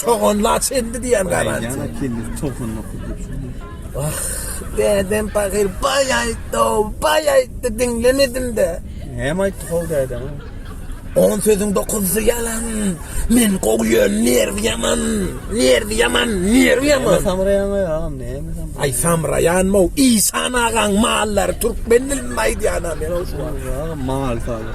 Çoganla çenli diýen galan. Ýa-da kendi çoganla Ah, dädem pahyr baý aýtdy, baý aýtdy, diňlemedim-de. Näme aýtdy hol dädem? On sözüň dokuzy ýalan. Men gowy ýön, nerwi ýaman. Nerwi ýaman, nerwi ýaman. Samraýan agam, näme samraýan? Aý samraýan mo, Isan agaň mallary türkmen dilinde aýdýan-a men o şu wagt. Mal saly.